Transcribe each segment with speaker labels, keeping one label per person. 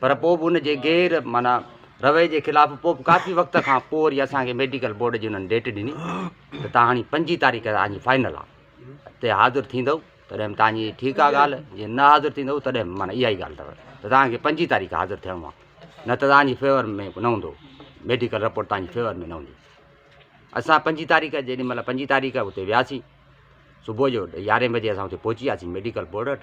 Speaker 1: پر پوء به ان جي غير معنيٰ رويي جي خلاف پوء به ڪافي وقت کان پوء وري اسان کي ميڊيڪل بورڊ جي انهن ڊيٽ ڏني ته تان هاڻي پنجين تاريخ تان جي فائنل آ اتي حاضر ٿيندؤ تڏهن تان جي ٺيڪ آ ڳالهه جي نه حاضر ٿيندؤ تڏهن معنيٰ اها ئي ڳالهه اٿو ته تان کي پنجين تاريخ حاضر ٿيڻو آ نه ته تان جي فيور ۾ نه هوندو ميڊيڪل رپورٽ تان جي فيور ۾ نه هوندي اسان پنجين تاريخ جيڏي مهل پنجين تاريخ اتي وياسين صبح جو يارهين بجي اسان اتي پهچي وياسين ميڊيڪل بورڊ وٽ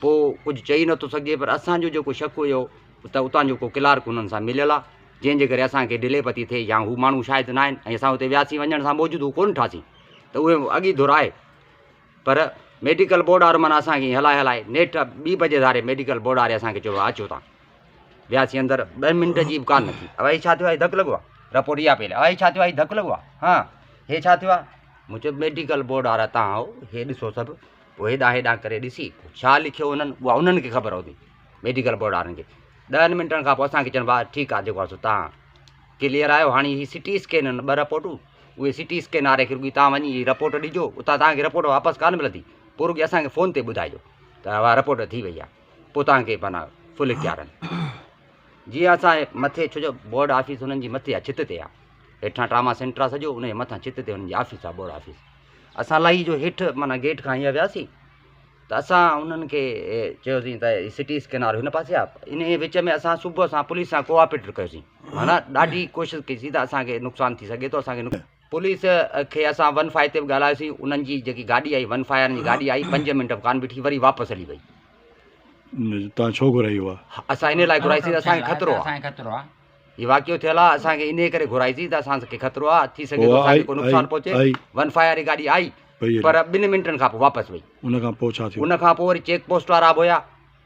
Speaker 1: پوء ڪجهه چئي نه ٿو سگهجي پر اسان جو جيڪو شڪ هيو ته اتان جو ڪو ڪلارڪ هنن سان مليل آ جنهن جي ڪري اسان کي ڊلي پتي ٿئي يا هو ماڻهو شايد نه آهن ۽ اسان اتي وياسين وڃڻ سان موجود هو ڪونه ٺاسين ته اهي اڳ ئي ڌرائي پر ميڊيڪل بورڊ وارو معنيٰ اسان کي هلائي هلائي نيٺ ٻي بجي ڌاري ميڊيڪل بورڊ واري اسان کي چيو اچو تان وياسين اندر ٻه منٽ جي به ڪان نه ٿي اوهي ڇا ٿيو آهي ڌڪ لڳو آهي رپورٽ اها پيل اوهي ڇا ٿيو آهي ڌڪ لڳو آهي ها هي ڇا ٿيو آهي مون چيو ميڊيڪل بورڊ وارا تان هو هي ڏسو سڀ پوء هيڏانهن هيڏانهن ڪري ڏسي ڇا لکيو هو انهن اها انهن کي خبر هوندي ميڊيڪل بورڊ وارن کي ڏهن منٽن کان پوء اسانکي چون ڀاء ٺيڪ آهي جيڪو آهي سو تان ڪليئر آهيو هاڻي هي سي ٽي اسڪين آهن ٻه رپورٽون اهي سي ٽي اسڪين واري کي رڳي تان وڃي رپورٽ ڏجو اتان تانکي رپورٽ واپس ڪانه ملندي پوء رڳي اسانکي فون تي ٻڌائجو ته اها رپورٽ ٿي وئي آهي پوء تانکي معنيٰ فل اختيار آهن جي ها صاحب، مٿي ڇو جو بورڊ آفيس انهن جي مٿي آ، ڇت تي آ. هيٺان ٽراما سينٽر آ سڄو، انهيء مٿان ڇت تي انهن جي آفيس آ، بورڊ آفيس. اسان لاهي جو هيٺ معنيٰ گيٽ کان هينئر وياسين ته اسان انهن کي چيوسين ته هي سٽي اسڪين وارو هن پاسي آ. انهيء وچ ۾ اسان صبح سان پوليس سان ڪوآپريٽ ڪيوسين. معنيٰ ڏاڍي ڪوشش ڪئي سين ته اسان کي نقصان ٿي سگهي ٿو، اسان کي نقصان. پوليس کي اسان ون فائي تي به ڳالهايوسين انهن جي جيڪي گاڏي آئي ون فائي وارن جي گاڏي آئي پنج منٽ به ڪانه بيٺي وري واپس هلي وئي
Speaker 2: توهان ڇو گهرائي هئا اسان ان لاء گهرائي سي
Speaker 1: اسان کي خطرو آ اسان کي خطرو آ هي واقعو ٿيل آ اسان کي انهي ڪري گهرائي سي ته اسان کي خطرو آ ٿي سگهي ٿو اسان کي ڪو نقصان پهچي ون فائي واري گاڏي آئي پر ٻن منٽن کان پوء واپس وئي ان کان پوء ڇا ٿيو ان
Speaker 2: کان پوء وري چيڪ پوسٽ
Speaker 1: وارا به هيا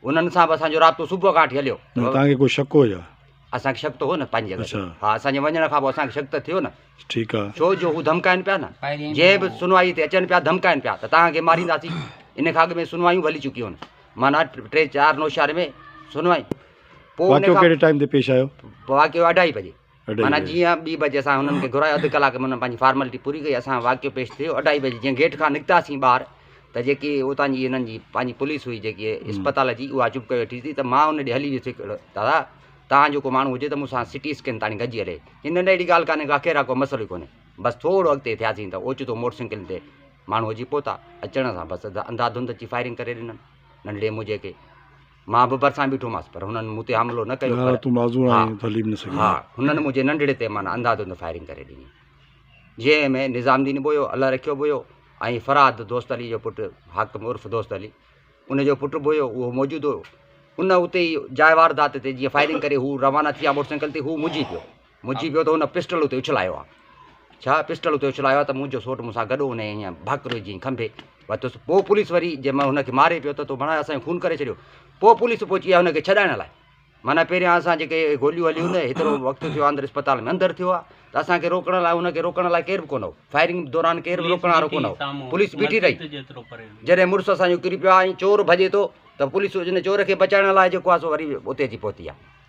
Speaker 1: انهن سان به اسان جو رابطو صبح کان وٺي هليو. معنيٰ توهان کي ڪو شڪ هو ڇا؟
Speaker 2: اسان کي شڪ ته هو
Speaker 1: نه پنهنجي جڳهه تي. ها اسان جي وڃڻ کان پوء اسان کي شڪ ته ٿيو نه. ٺيڪ آ. ڇو جو
Speaker 2: هو ڌمڪائن پيا
Speaker 1: نه. جنهن به سنوائي تي اچن پيا ڌمڪائن پيا ته توهان کي مارينداسين. ان کان اڳ ۾ سنوايون به هلي چڪيون هن. معنيٰ ٽي چار نوشهري ۾ سنوائي. پوء ان کان. واقعو ڪهڙي ٽائيم تي پيش
Speaker 2: آيو؟ واقعو اڍائي بجي.
Speaker 1: معنيٰ جيئن ٻي بجي اسان هنن کي گهرايو اڌ ڪلاڪ ۾ هنن پنهنجي فارملٽي پوري ڪئي اسان واقعو پيش ٿيو اڍائي بجي جيئن گيٽ کان نڪتاسين ٻاهر ته جيڪي اتان جي هنن جي پنهنجي پوليس هئي جيڪي اسپتال جي اها چپ ڪري ويٺي ٿي ته مان ان ڏي هلي ويس دادا تان جو ڪو ماڻهو هجي ته مون سان سٽي اسڪين تاڻي گڏجي هلي چي نه نه اهڙي ڳالهه ڪانهي ڪا خير آ ڪو مسئلو ئي ڪونهي بس ٿورو اڳتي ٿياسين ته اوچتو موٽر سائيڪل تي ماڻهو اچي پهتا اچڻ سان بس انڌا ڌنڌ اچي فائرنگ ڪري ڏنن ننڍڙي موجي کي مان به ڀرسان بيٺو هئس پر هنن مون تي حملو نه ڪيو پر تون معذور آهين ته هلي به نه سگهين ها هنن منهنجي ننڍڙي تي معنيٰ انداڌند فائرنگ ڪري ڏني جنهن ۾ نظام دين به هيو الله رکيو به هيو ۽ فرهاد دوست علي جو پٽ حاڪم عرف دوست علي ان جو پٽ به هيو اهو موجود هيو ان اتي جاء واردات تي جيئن فائرنگ ڪري هو روانا ٿي ويا موٽر سائيڪل تي هو مجهي پيو منهنجي پيو ته هن پسٽل اتي اڇلايو آهي ڇا پسٽل اتي اڇلايو آهي ته منهنجو سوٽ مون سان گڏ هو نه هيئن ڀاڪرو جيئن کنڀي وتس پوء پوليس وري جي مهل هن کي ماري پيو ته تو بڻايو اسان خون ڪري ڇڏيو پوء پوليس پهچي آهي هن کي ڇڏائڻ لاء معنيٰ پهريان اسان جيڪي گوليون هليون نه هيترو وقت ٿيو آهي اندر اسپتال ۾ اندر ٿيو آهي ته اسان کي روڪڻ لاء هن کي روڪڻ لاء ڪير به ڪونه هو فائرنگ دوران ڪير به روڪڻ وارو ڪونه هو پوليس بيٺي رهي جڏهن مڙس اسان جو ڪري پيو آهي ۽ چور ڀڄي ٿو ته پوليس ان چور کي بچائڻ لاء جيڪو آهي سو وري اتي اچي پهتي آهي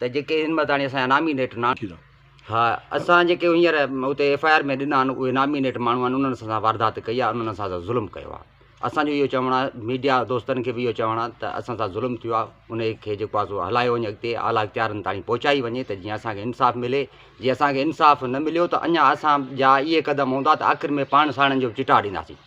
Speaker 1: ته جيڪي هن مهل تاڻي اسان جا نامينيٽ نه آهن ها اسان جيڪي هينئر اتي ايف آء آر ۾ ڏنا آهن اهي نامينيٽ ماڻهو آهن انهن سان واردات ڪئي آهي انهن سان ظلم ڪيو آهي اسان جو اهو چوڻ آهي ميڊيا دوستن کي به اهو چوڻ آهي ته اسان سان ظلم ٿيو آهي ان کي جيڪو آهي سو هلايو وڃي اڳتي اعليٰ اختيارن تاڻي پهچائي وڃي ته جيئن اسانکي انصاف ملي جي اسانکي انصاف نه مليو ته اڃا اسان جا اهي قدم هوندا ته آخر ۾ پاڻ ساڻن جو چٽاء ڏينداسين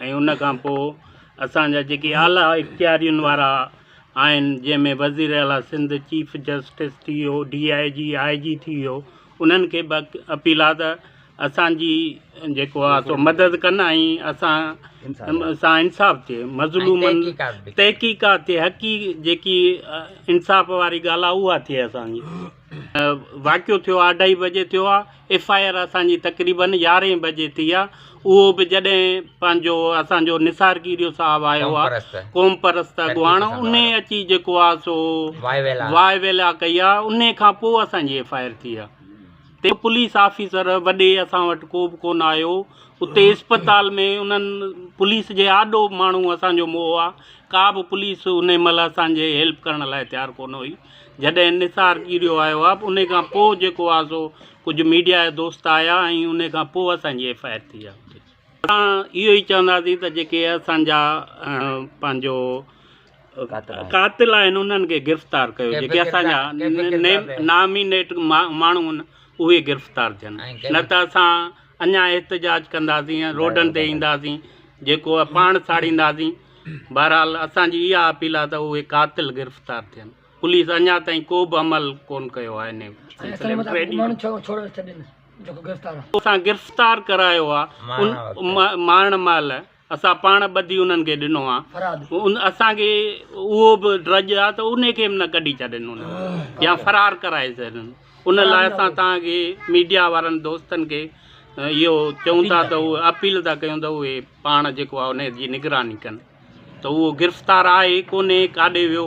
Speaker 3: ۽ ان کان پوء اسان جا جيڪي اعليٰ اختيارين وارا آهن جنهن ۾ وزير اعليٰ سنڌ، چيف جسٽس ٿي ويو، ڊي آء جي، آء جي ٿي ويو انهن کي به اپيل آهي ته اسان جي جيڪو آهي سو مدد ڪن ۽ اسان سان انصاف ٿئي مظلومن تحقيقات ٿئي حقيقي جيڪي انصاف واري ڳالهه آهي اها ٿئي اسان جي. واقعو ٿيو اڍائي بجي ٿيو آ ايف آء آر اسان جي تقريبن يارهين بجي ٿي آ اهو به جڏهن پنهنجو اسان جو نثار ڪيريو صاحب آيو آ قوم پرست اڳواڻ ان اچي جيڪو آ سو واء ويلا ڪئي آ ان کان پوء اسان جي ايف آء آر ٿي آ تي پوليس آفيسر وڏي اسان وٽ ڪو به ڪون آيو اتي اسپتال ۾ انهن پوليس جي آڏو ماڻهو اسان جو مئو آ ڪا به پوليس ان مهل اسان جي هيلپ ڪرڻ لاء تيار ڪون هئي جڏهن نثار ڄريو آيو آ ان کان پوء جيڪو آ سو ڪجهه ميڊيا جا دوست آيا ۽ ان کان پوء اسان جي ايف آء آر ٿي آ اتي. اسان اهو ئي چونداسين ته جيڪي اسان جا پنهنجو قاتل آهن انهن کي گرفتار ڪيو جيڪي اسان جا نامينيٽ ماڻهو ان اهي گرفتار ٿين نه ته اسان اڃان احتجاج ڪنداسين روڊن تي اينداسين جيڪو آ پاڻ ساڙينداسين. بهرحال اسان جي اها اپيل آهي ته اهي قاتل گرفتار ٿين، پوليس اڃا تائين ڪو به عمل ڪون ڪيو آهي انهي سلسلي ۾ ٽريڊ يونين اسان گرفتار ڪرايو آهي مارڻ مهل اسان پاڻ ٻڌي انهن کي ڏنو آهي اسان کي اهو به ڊڄ آهي ته انهي کي به نه ڪڍي ڇڏين يا فرار ڪرائي ڇڏين ان لاء اسان توهان کي ميڊيا وارن دوستن کي اهو چئون ٿا ته اهي اپيل ٿا ڪيون ته اهي پاڻ جيڪو آهي ان جي نگراني ڪن ته اهو گرفتار آهي ڪونهي ڪاڏي ويو